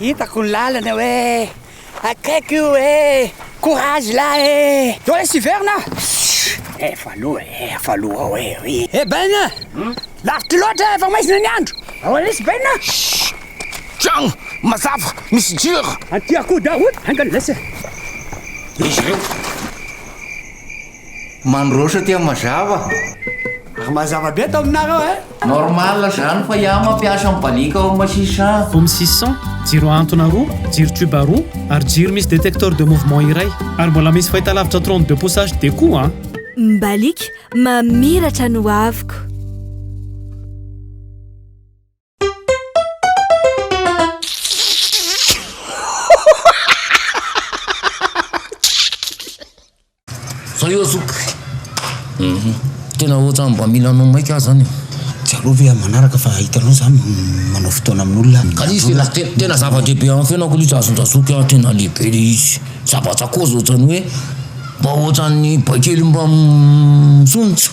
Hitako ny lalana hoe akaiky io e courage la e eo le siverina efa aloha e efa aloha ao e ry e baina lavitra loatra efa maizina ny andro ao lesy baina tragno mazava misy jiro anty akoho daroty angany lesy izy ireo Mandroso aty mazava. Ary mazava be ato aminareo eh. Normal zany fa iah mampiasa ny balika ao masisa an. Home six cent, jiro ahantona roa, jiro tube roa, ary jiro misy détecteur de mouvement iray. Ary mbola misy fahitalavitra trente deux pouces HD koa an. Ny balika mamiratra ny hoaviko. Zao io zoky. Mhm. Tena ohatrany mba mila anao maika aho zany. Tsy aleo ve amin'ny manaraka fa hitanao za manao fotoana amin'olona. Ka izy tena tena zava-dehibe amin'ny fiainako ilay izy azon-dRazoky a, tena lehibe ilay izy. Zabatsa kozy ohatrany hoe mba ohatrany baikely mba misondrotra.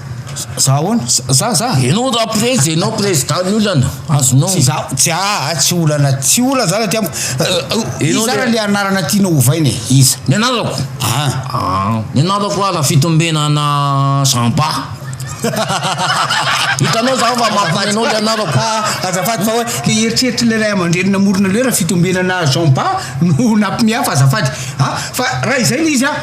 Za ahoana? Za za. Ianao raha prezy dia ianao président ny olana. Azonao. Tsy za, tsy aa, tsy olana, tsy olana zany aty amiko. Iza zany ilay anarana tianao hovaina e? Iza? Ny anarako? An. An. Ny anarako ara fitombenana Samba. Hitanao za fa mampme anao le anarako. Ah, azafady fa hoe le eritreritry le ray aman-dreny namorona le rafitombenana Jean Ba no nampme ahy fa azafady. Ah, fa raha izay le izy an.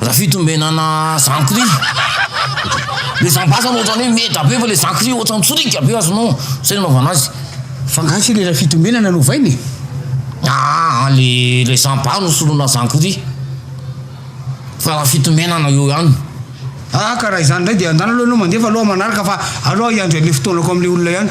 Raha fitombenana zankry le zambasana ohatrany hoe meda be fa le zankry ohatrany tsoriaka be azonao zay no anaovana azy fa nga tsy le raha fitombenana no ovaina e aa le le zambasy no soloina zankry fa raha fitombenana eo ihany aa ka raha izany indray dia andana aloha ianao mandefa aloha manaraka fa aleo aho hiandry an'le fotoanako am'le olona ihany